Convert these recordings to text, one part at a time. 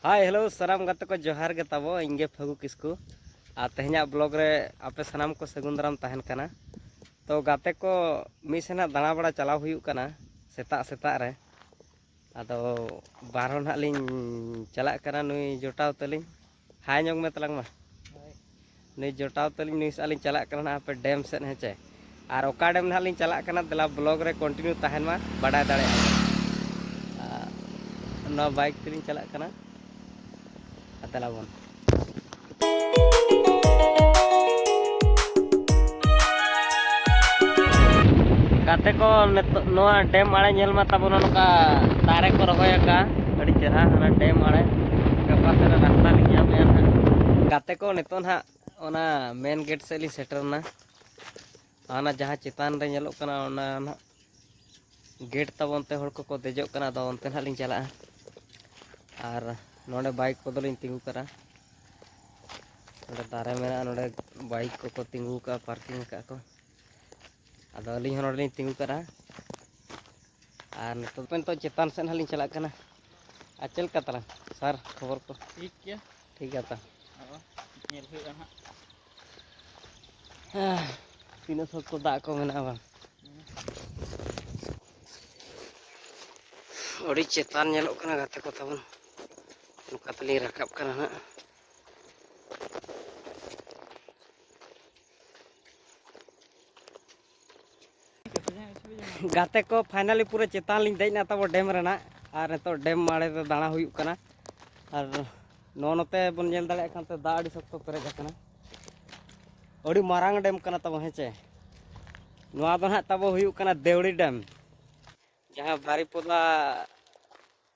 ᱦᱟᱭ hello ᱥᱟᱱᱟᱢ ᱜᱟᱛᱮ ᱠᱚ ᱡᱚᱦᱟᱨ ᱜᱮ ᱛᱟᱵᱚ ᱤᱧ ᱜᱮ ᱯᱷᱟᱹᱜᱩ ᱠᱤᱥᱠᱩ ᱟᱨ ᱛᱮᱦᱮᱧᱟᱜ ᱵᱞᱚᱜ ᱨᱮ ᱟᱯᱮ ᱥᱟᱱᱟᱢ ᱠᱚ ᱥᱟᱹᱜᱩᱱ ᱫᱟᱨᱟᱢ ᱛᱟᱦᱮᱱ ᱠᱟᱱᱟ ᱛᱚ ᱜᱟᱛᱮ ᱠᱚ ᱢᱤᱫ ᱥᱮᱱᱟᱜ ᱫᱟᱬᱟ ᱵᱟᱲᱟ ᱪᱟᱞᱟᱣ ᱦᱩᱭᱩᱜ ᱠᱟᱱᱟ ᱥᱮᱛᱟᱜ ᱥᱮᱛᱟᱜ ᱨᱮ ᱟᱫᱚ ᱵᱟᱨᱦᱚᱸ ᱱᱟᱦᱟᱜ ᱞᱤᱧ ᱪᱟᱞᱟᱜ ᱠᱟᱱᱟ ᱱᱩᱭ ᱡᱚᱴᱟᱣ ᱛᱟᱹᱞᱤᱧ ᱦᱟᱭ ᱧᱚᱜ ᱢᱮ ᱛᱟᱞᱟᱝ ᱢᱟ ᱱᱩᱭ ᱡᱚᱴᱟᱣ ᱛᱟᱹᱞᱤᱧ ᱱᱩᱭ ᱥᱟᱜ ᱞᱤᱧ ᱪᱟᱞᱟᱜ ᱠᱟᱱᱟ ᱦᱟᱯᱮ ᱰᱮᱢ ᱥᱮᱫ ᱦᱮᱸ ᱪᱮ ᱟᱨ ᱚᱠᱟ ᱰᱮᱢ ᱱᱟᱦᱟᱜ ᱞᱤᱧ ᱪᱟᱞᱟᱜ ᱠᱟᱱᱟ ᱫᱮᱞᱟ ᱵᱞᱚᱜ ᱨᱮ ᱠᱚᱱᱴᱤᱱᱤᱭᱩ ᱛᱟᱦᱮᱱ ᱢᱟ ᱵᱟᱰᱟᱭ ᱫᱟᱲᱮᱭᱟᱜᱼᱟ ᱱᱚᱣᱟ ᱵᱟᱭᱤᱠ ᱛᱮᱞᱤᱧ ᱪᱟᱞᱟᱜ ᱠᱟᱱᱟ ᱫᱮᱞᱟ ᱵᱚᱱ ᱜᱟᱛᱮ ᱠᱚ ᱱᱤᱛᱚᱜ ᱱᱚᱣᱟ ᱰᱮᱢ ᱟᱲᱮ ᱧᱮᱞ ᱢᱟ ᱛᱟᱵᱚᱱ ᱱᱚᱝᱠᱟ ᱫᱟᱨᱮ ᱠᱚ ᱨᱚᱦᱚᱭ ᱟᱠᱟᱫᱼᱟ ᱟᱹᱰᱤ ᱪᱮᱦᱨᱟ ᱚᱱᱟ ᱰᱮᱢ ᱟᱲᱮ ᱜᱟᱯᱟ ᱥᱮᱫ ᱨᱮ ᱨᱟᱥᱛᱟ ᱞᱤᱧ ᱧᱟᱢᱮᱜᱼᱟ ᱱᱟᱦᱟᱜ ᱜᱟᱛᱮ ᱠᱚ ᱱᱤᱛᱚᱜ ᱱᱟᱦᱟᱜ ᱚᱱᱟ ᱢᱮᱱ ᱜᱮᱴ ᱥᱮᱫ ᱞᱤᱧ ᱥᱮᱴᱮᱨᱱᱟ ᱚᱱᱟ ᱡᱟᱦᱟᱸ ᱪᱮᱛᱟᱱ ᱨᱮ ᱧᱮᱞᱚᱜ ᱠᱟᱱᱟ ᱚᱱᱟ ᱱᱟᱦᱟᱜ ᱜᱮᱴ ᱛᱟᱵᱚᱱ ᱛᱮ ᱦᱚᱲ ᱠᱚᱠᱚ ᱫᱮᱡᱚᱜ ᱠᱟᱱᱟ ᱟᱫᱚ ᱚᱱᱛᱮ ᱱᱟᱦᱟᱜ ᱞᱤᱧ ᱪᱟᱞᱟᱜᱼᱟ ᱟᱨ ᱱᱚᱰᱮ ᱵᱟᱭᱤᱠ ᱠᱚᱫᱚᱞᱤᱧ ᱛᱤᱸᱜᱩ ᱠᱟᱜᱼᱟ ᱱᱚᱰᱮ ᱫᱟᱨᱮ ᱢᱮᱱᱟᱜᱼᱟ ᱱᱚᱰᱮ ᱵᱟᱭᱤᱠ ᱠᱚᱠᱚ ᱛᱤᱸᱜᱩ ᱠᱟᱜᱼᱟ ᱯᱟᱨᱠᱤᱝ ᱠᱟᱜᱼᱟ ᱠᱚ ᱟᱫᱚ ᱟᱹᱞᱤᱧ ᱦᱚᱸ ᱱᱚᱰᱮ ᱞᱤᱧ ᱛᱤᱸᱜᱩ ᱠᱟᱱᱟ ᱟᱨ ᱱᱤᱛᱚᱜ ᱫᱚ ᱱᱤᱛᱚᱜ ᱪᱮᱛᱟᱱ ᱥᱮᱫ ᱦᱟᱸᱜ ᱞᱤᱧ ᱪᱟᱞᱟᱜ ᱠᱟᱱᱟ ᱟᱨ ᱪᱮᱫ ᱞᱮᱠᱟ ᱛᱟᱞᱟᱝ ᱥᱟᱨ ᱠᱷᱚᱵᱚᱨ ᱠᱚ ᱴᱷᱤᱠ ᱜᱮᱭᱟ ᱴᱷᱤᱠ ᱜᱮᱭᱟ ᱛᱟ ᱟᱫᱚ ᱧᱮᱞ ᱦᱩᱭᱩᱜᱼᱟ ᱦᱟᱸᱜ ᱦᱮᱸ, ᱛᱤᱱᱟᱹᱜ ᱥᱚᱠᱛᱚ ᱫᱟᱜ ᱠᱚ ᱢᱮᱱᱟᱜᱼᱟ ᱵᱟᱝ ᱟᱹᱰᱤ ᱪᱮᱛᱟᱱ ᱧᱮᱞᱚᱜ ᱠᱟᱱᱟ ᱜᱟᱛᱮ ᱠᱚ ᱛᱟᱵᱚᱱ ᱱᱚᱝᱠᱟ ᱛᱮᱞᱤᱧ ᱨᱟᱠᱟᱵ ᱠᱟᱱᱟ ᱦᱟᱸᱜ ᱜᱟᱛᱮ ᱠᱚ ᱯᱷᱟᱭᱱᱟᱞᱤ ᱯᱩᱨᱟᱹ ᱪᱮᱛᱟᱱ ᱞᱤᱧ ᱫᱮᱡ ᱮᱱᱟ ᱛᱟᱵᱚ ᱰᱮᱢ ᱨᱮᱱᱟᱜ ᱟᱨ ᱱᱤᱛᱚᱜ ᱰᱮᱢ ᱢᱟᱲᱮ ᱨᱮ ᱫᱟᱬᱟ ᱦᱩᱭᱩᱜ ᱠᱟᱱᱟ ᱟᱨ ᱱᱚᱣᱟ ᱱᱚᱛᱮ ᱵᱚᱱ ᱧᱮᱞ ᱫᱟᱲᱮᱭᱟᱜ ᱠᱟᱱ ᱛᱮ ᱫᱟᱜ ᱟᱹᱰᱤ ᱥᱚᱠᱛᱚ ᱯᱮᱨᱮᱡ ᱟᱠᱟᱱᱟ ᱟᱹᱰᱤ ᱢᱟᱨᱟᱝ ᱰᱮᱢ ᱠᱟᱱᱟ ᱛᱟᱵᱚ ᱦᱮᱸᱪᱮ ᱱᱚᱣᱟ ᱫᱚ ᱱᱟᱦᱟᱜ ᱛᱟᱵᱚ ᱦᱩᱭᱩᱜ ᱠᱟᱱᱟ ᱫᱮᱣᱲᱤ ᱰᱮᱢ ᱡᱟᱦᱟᱸ ᱵᱟᱨᱤᱯᱚᱫᱟ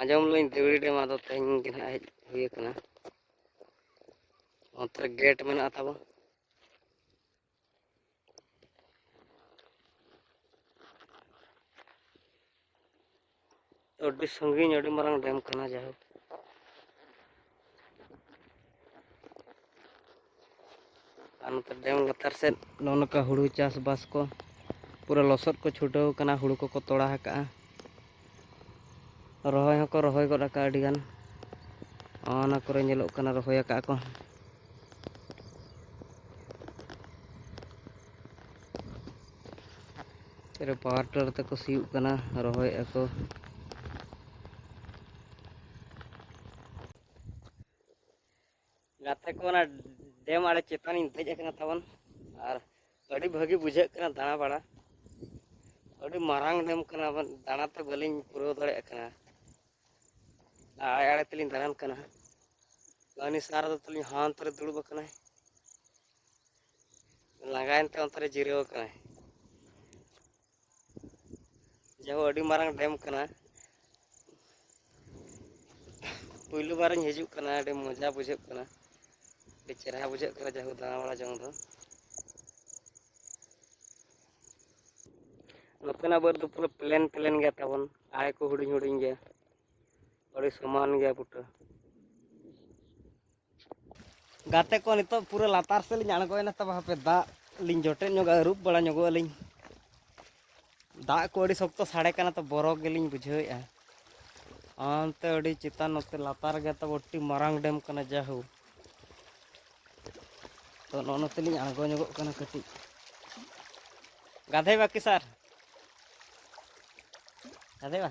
ᱟᱸᱡᱚᱢ ᱞᱤᱧ ᱫᱮᱣᱲᱤ ᱰᱮᱢ ᱟᱫᱚ ᱛᱮᱦᱮᱧ ᱜᱮ ᱱᱟᱦᱟᱜ ᱦᱮᱡ ᱦᱩᱭ ᱟᱠᱟᱱᱟ ᱚᱱᱛᱮ ᱨᱮ ᱜᱮᱴ ᱢᱮᱱᱟᱜᱼᱟ ᱛᱟᱵᱚᱱ ᱟᱹᱰᱤ ᱥᱟᱺᱜᱤᱧ ᱟᱹᱰᱤ ᱢᱟᱨᱟᱝ ᱰᱮᱢ ᱠᱟᱱᱟ ᱡᱟᱭᱦᱳᱠ ᱟᱨ ᱱᱚᱛᱮ ᱰᱮᱢ ᱞᱟᱛᱟᱨ ᱥᱮᱫ ᱱᱚᱜᱼᱚ ᱱᱚᱝᱠᱟ ᱦᱩᱲᱩ ᱪᱟᱥᱵᱟᱥ ᱠᱚ ᱯᱩᱨᱟᱹ ᱞᱚᱥᱚᱫ ᱠᱚ ᱪᱷᱩᱴᱟᱹᱣ ᱠᱟᱱᱟ ᱦᱩᱲᱩ ᱠᱚᱠᱚ ᱛᱚᱲᱟ ᱟᱠᱟᱜᱼᱟ ᱨᱚᱦᱚᱭ ᱦᱚᱸᱠᱚ ᱨᱚᱦᱚᱭ ᱜᱚᱫ ᱟᱠᱟᱜᱼᱟ ᱟᱹᱰᱤᱜᱟᱱ ᱚᱱᱟ ᱠᱚᱨᱮ ᱧᱮᱞᱚᱜ ᱠᱟᱱᱟ ᱨᱚᱦᱚᱭ ᱟᱠᱟᱜᱼᱟ ᱠᱚ ᱨᱮ ᱯᱟᱣᱟᱨ ᱴᱤᱞᱟᱨ ᱛᱮᱠᱚ ᱥᱤᱭᱳᱜ ᱠᱟᱱᱟ ᱨᱚᱦᱚᱭᱮᱫᱼᱟ ᱠᱚ ᱜᱟᱛᱮ ᱠᱚ ᱚᱱᱟ ᱰᱮᱢ ᱟᱲᱮ ᱪᱮᱛᱟᱱᱤᱧ ᱫᱮᱡ ᱟᱠᱟᱱᱟ ᱛᱟᱵᱚᱱ ᱟᱨ ᱟᱹᱰᱤ ᱵᱷᱟᱹᱜᱤ ᱵᱩᱡᱷᱟᱹᱜ ᱠᱟᱱᱟ ᱫᱟᱬᱟ ᱵᱟᱲᱟ ᱟᱹᱰᱤ ᱢᱟᱨᱟᱝ ᱰᱮᱢ ᱠᱟᱱᱟ ᱫᱟᱬᱟᱛᱮ ᱵᱟᱹᱞᱤᱧ ᱯᱩᱨᱟᱹᱣ ᱫᱟᱲᱮᱭᱟᱜ ᱠᱟᱱᱟ ᱟᱲᱮ ᱟᱲᱮ ᱛᱮᱞᱤᱧ ᱫᱟᱬᱟᱱ ᱠᱟᱱᱟ ᱩᱱᱤ ᱥᱟᱨ ᱫᱚ ᱛᱟᱹᱞᱤᱧ ᱦᱟᱱᱛᱮ ᱨᱮ ᱫᱩᱲᱩᱵ ᱟᱠᱟᱱᱟᱭ ᱞᱟᱸᱜᱟᱭᱮᱱ ᱛᱮ ᱚᱱᱛᱮ ᱨᱮ ᱡᱤᱨᱟᱹᱣ ᱟᱠᱟᱱᱟᱭ ᱡᱟᱦᱳ ᱟᱹᱰᱤ ᱢᱟᱨᱟᱝ ᱰᱮᱢ ᱠᱟᱱᱟ ᱯᱩᱭᱞᱩ ᱵᱟᱨᱤᱧ ᱦᱤᱡᱩᱜ ᱠᱟᱱᱟ ᱟᱹᱰᱤ ᱢᱚᱡᱟ ᱵᱩᱡᱷᱟᱹᱜ ᱠᱟᱱᱟ ᱟᱹᱰᱤ ᱪᱮᱨᱦᱟ ᱵᱩᱡᱷᱟᱹᱜ ᱠᱟᱱᱟ ᱡᱟᱦᱳ ᱫᱟᱬᱟ ᱵᱟᱲᱟ ᱡᱚᱝ ᱫᱚ ᱱᱚᱛᱮᱱᱟᱜ ᱵᱟᱹᱫᱽ ᱫᱚ ᱯᱩᱨᱟᱹ ᱯᱞᱮᱱ ᱯᱞᱮᱱ ᱜᱮᱭᱟ ᱛᱟᱵᱚᱱ ᱟᱲᱮ ᱠᱚ ᱦᱩᱰᱤᱧ ᱦᱩᱰᱤᱧ ᱜᱮᱭᱟ ᱟᱹᱰᱤ ᱥᱚᱢᱟᱱ ᱜᱮᱭᱟ ᱜᱚᱴᱟ ᱜᱟᱛᱮ ᱠᱚ ᱱᱤᱛᱚᱜ ᱯᱩᱨᱟᱹ ᱞᱟᱛᱟᱨ ᱥᱮᱫ ᱞᱤᱧ ᱟᱬᱜᱚᱭᱮᱱᱟ ᱛᱚᱵᱮ ᱦᱟᱯᱮ ᱫᱟᱜ ᱞᱤᱧ ᱡᱚᱴᱮᱫ ᱧᱚᱜᱟ ᱟᱹᱨᱩᱵ ᱵᱟᱲᱟ ᱧᱚᱜᱚᱜ ᱟᱹᱞᱤᱧ ᱫᱟᱜ ᱠᱚ ᱟᱹᱰᱤ ᱥᱚᱠᱛᱚ ᱥᱟᱰᱮ ᱠᱟᱱᱟ ᱛᱚ ᱵᱚᱨᱚ ᱜᱮᱞᱤᱧ ᱵᱩᱡᱷᱟᱹᱣᱮᱫᱼᱟ ᱚᱱᱛᱮ ᱟᱹᱰᱤ ᱪᱮᱛᱟᱱ ᱱᱚᱛᱮ ᱞᱟᱛᱟᱨ ᱜᱮ ᱛᱟᱵᱚ ᱟᱹᱰᱤ ᱢᱟᱨᱟᱝ ᱰᱮᱢ ᱠᱟᱱᱟ ᱡᱟᱦᱳ ᱛᱚ ᱱᱚᱜᱼᱚ ᱱᱚᱛᱮ ᱞᱤᱧ ᱟᱬᱜᱚ ᱧᱚᱜᱚᱜ ᱠᱟᱱᱟ ᱠᱟᱹᱴᱤᱡ ᱜᱟᱫᱷᱮ ᱵᱟᱠᱤ ᱥᱟᱨ ᱜᱟᱫᱷᱮ ᱵᱟ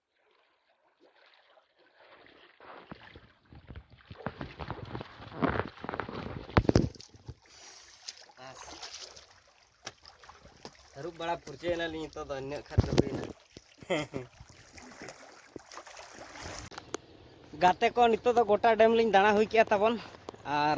ᱟᱹᱨᱩᱵ ᱵᱟᱲᱟ ᱯᱷᱩᱨᱪᱟᱹᱭᱮᱱᱟᱞᱤᱧ ᱱᱤᱛᱚᱜ ᱫᱚ ᱤᱱᱟᱹᱜ ᱠᱷᱟᱱ ᱫᱚ ᱦᱩᱭᱱᱟ ᱜᱟᱛᱮ ᱠᱚ ᱱᱤᱛᱚᱜ ᱫᱚ ᱜᱚᱴᱟ ᱰᱮᱢ ᱞᱤᱧ ᱫᱟᱬᱟ ᱦᱩᱭ ᱠᱮᱜᱼᱟ ᱛᱟᱵᱚᱱ ᱟᱨ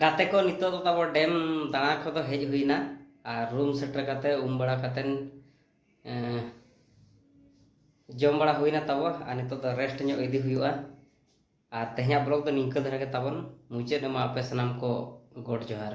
ᱜᱟᱛᱮ ᱠᱚ ᱱᱤᱛᱚᱜ ᱫᱚ ᱛᱟᱵᱚ ᱰᱮᱢ ᱫᱟᱬᱟ ᱠᱚᱫᱚ ᱦᱮᱡ ᱦᱩᱭᱱᱟ ᱟᱨ ᱨᱩᱢ ᱥᱮᱴᱮᱨ ᱠᱟᱛᱮ ᱩᱢ ᱵᱟᱲᱟ ᱠᱟᱛᱮ ᱡᱚᱢ ᱵᱟᱲᱟ ᱦᱩᱭᱱᱟ ᱛᱟᱵᱚ ᱟᱨ ᱱᱤᱛᱚᱜ ᱫᱚ ᱨᱮᱥᱴ ᱧᱚᱜ ᱤᱫᱤ ᱦᱩᱭᱩᱜᱼᱟ ᱟᱨ ᱛᱮᱦᱮᱧᱟᱜ ᱵᱞᱚᱜ ᱫᱚ ᱱᱤᱝᱠᱟᱹ ᱫᱷᱟᱨᱟ ᱜᱮ ᱛᱟᱵᱚᱱ ᱢᱩᱪᱟᱹᱫ ᱮᱢᱟ ᱟᱯᱮ ᱥᱟᱱᱟᱢ ᱠᱚ ᱜᱚᱰ ᱡᱚᱦᱟᱨ